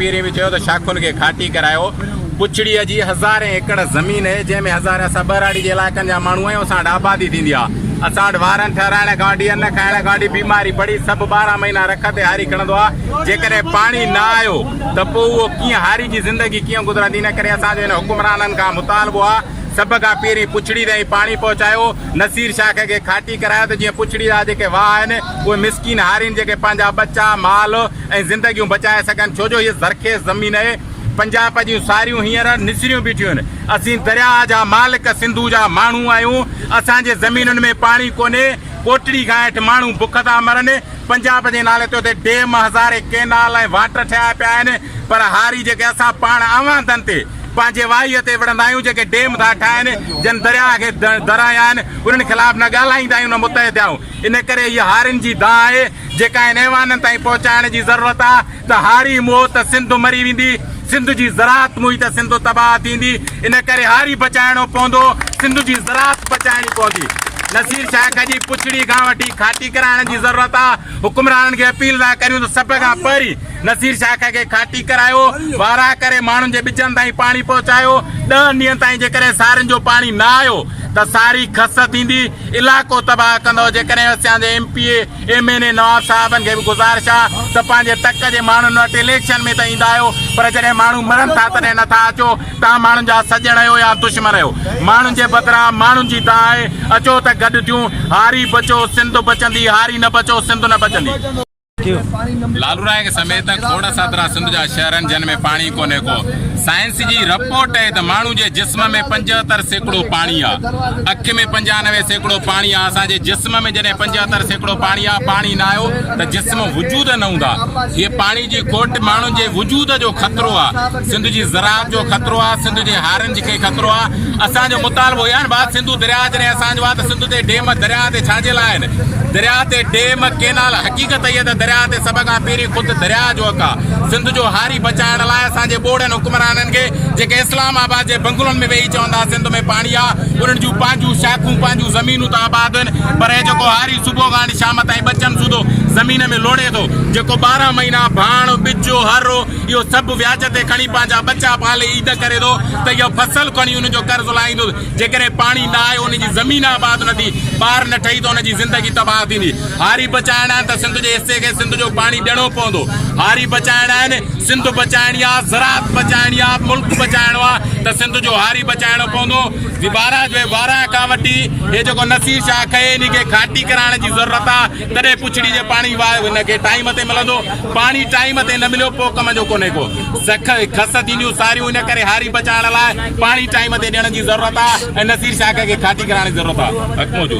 پيري به چيو ته شاخن کي گهاٽي ڪرايو، پڇڙيء جي هزارين ايڪڙ زمين اهي، جنهن ۾ هزارين اسان ٻهراڙي جي علائقن جا ماڻهو آهيون، اسان وٽ آبادي ٿيندي آ، اسان وٽ وارن ٺهرائڻ کانوٺي ان کائڻ کانوٺي بيماري پڙي سڀ ٻارهن مهينا رک تي هاري کڻندو آ، جيڪڏهن پاڻي نه آيو ته پوء اهو ڪيئن هاري جي زندگي ڪيئن گذرندي، ان ڪري اسان جو هن حڪمرانن کان مطالبو آ سڀ کان پيرين پڇڙي تائين پاڻي پهچايو، نصير شاخ کي گهاٽي ڪرايو ته جيئن پڇڙي جا جيڪي واهه آهن اهي مسڪين هارين جيڪي پنهنجا ٻچا، مال، ۽ زندگيون بچائي سگهن ڇو جو هيء زرخيز زمين اهي پنجاب جون ساريون هينئر نسريون بيٺيون آهن اسين درياء جا مالڪ سنڌو جا ماڻهو آهيون اسان جي زمينن ۾ پاڻي ڪونهي ڪوٽڙي کان هيٺ ماڻهو بک ٿا مرن پنجاب جي نالي تي اتي ڊيم هزارين ڪينال ۽ واٽر ٺهيا پيا آهن پر هاري جيڪي اسان پاڻ اوهانڌن تي پنهنجي واهي تي وڙهندا آهيون جيڪي ڊيم ٿا ٺاهن جن درياء کي درايا آهن انهن خلاف نه ڳالهائيندا آهيون نه متحد آهيون ان ڪري هيء هارين جي دانهن آهي جيڪا هن ايوانن تائين پهچائڻ جي ضرورت آ ته هاري موئو ته سنڌ مري ويندي، سنڌ جي زراعت موئي ته سنڌ تباهه ٿيندي، ان ڪري هاري بچائڻو پوندو، سنڌ جي زراعت بچائڻي پوندي. نصير شاهه کجي پڇڙي کان وٺي کاٽي ڪرائڻ جي ضرورت آ، حڪمرانن کي اپيل ٿا ڪريون ته سڀ کان پهرين نصير شاخ کي کاٽي ڪرايو، وارهه ڪري ماڻهن جي ٻجن تائين پاڻي پهچايو، ڏهن ڏينهن تائين جيڪڏهن سارين جو پاڻي نه آيو ته ساري کس ٿيندي، علائقو تباهه ڪندو، جيڪڏهن اسان جي M P A, M N A نواب صاحبن کي به گذارش آ ته پنهنجي تڪ جي ماڻهن وٽ اليڪشن ۾ ته ايندا آهيو پر جڏهن ماڻهو مرن ٿا تڏهن نه ٿا اچو، توهان ماڻهن جا سڄڻ آهيو يا دشمن آهيو، ماڻهن جي بدران ماڻهن جي دانهن آهي، اچو ته گڏ ٿيون، هاري بچو سنڌ بچندي، هاري نه بچو سنڌ نه بچندي. لالورائينگ سميت کوڙ ساترا سنڌ جا شهر آهن جن ۾ پاڻي ڪونهي ڪو. سائنس جي رپورٽ اهي ته ماڻهو جي جسم ۾ پنجهتر سيڪڙو پاڻي آ. اک ۾ پنجانوي سيڪڙو پاڻي آ. اسان جي جسم ۾ جڏهن پنجهتر سيڪڙو پاڻي آ. پاڻي نه آيو ته جسم وجود نه هوندا. هيء پاڻي جي کوٽ ماڻهن جي وجود جو خطرو آ. سنڌ جي زراعت جو خطرو آ سنڌ جي هارن جي کي خطرو آ اسان جو مطالبو اهي آهن بات سنڌو دريا جڏهن اسان جو آ ته سنڌ تي ڊيم دريا تي ڇا جي لاء آهن دريا تي ڊيم ڪينال حقيقت اهي ته دريا تي سڀ کان پهرين خود دريا جو حق آ سنڌ جو هاري بچائڻ لاء اسان جي ٻوڙن حڪمرانن کي جيڪي اسلام آباد جي بنگلن ۾ ويهي چوندا سنڌ ۾ پاڻي آ انهن جون پنهنجون شاخون پنهنجون زمينون ته آباد آهن پر هي جيڪو هاري صبح کان شام تائين ٻچن سوڌو زمين ۾ لوڙي ٿو جيڪو ٻارهن مهينا ڀاڻ ٻجو هرو اهو سڀ وياج تي کڻي پنهنجا ٻچا پالي عيد ڪري ٿو ته اهو فصل کڻي ان جو قرض لاهيندو. جيڪڏهن پاڻي نه آيو، ان جي زمين آباد نه ٿي، ٻار نه ٺهي ته ان جي زندگي تباهه ٿيندي. هاري بچائڻا آهن ته سنڌ جي حصي کي سنڌ جو پاڻي ڏيڻو پوندو. هاري بچائڻا آهن، سنڌ بچائڻي آهي، زراعت بچائڻي آهي، ملڪ بچائڻو آهي ته سنڌ جو هاري بچائڻو پوندو. وارهه کان وٺي هي جيڪو نصير شاهه کئي انهي کي کاٽي ڪرائڻ جي ضرورت آهي. تڏهن پڇڙي جي پاڻي واء هن کي ٽائيم تي ملندو، پاڻي ٽائيم تي نه مليو پوء ڪم جو ڪونهي ڪو. سک ۽ کس ٿينديون ساريون ان ڪري هاري بچائڻ لاء پاڻي ٽائيم تي ڏيڻ جي ضرورت آ ۽ نصير شاخ کي کاٽي ڪرائڻ جي ضرورت آ. حڪمو جو.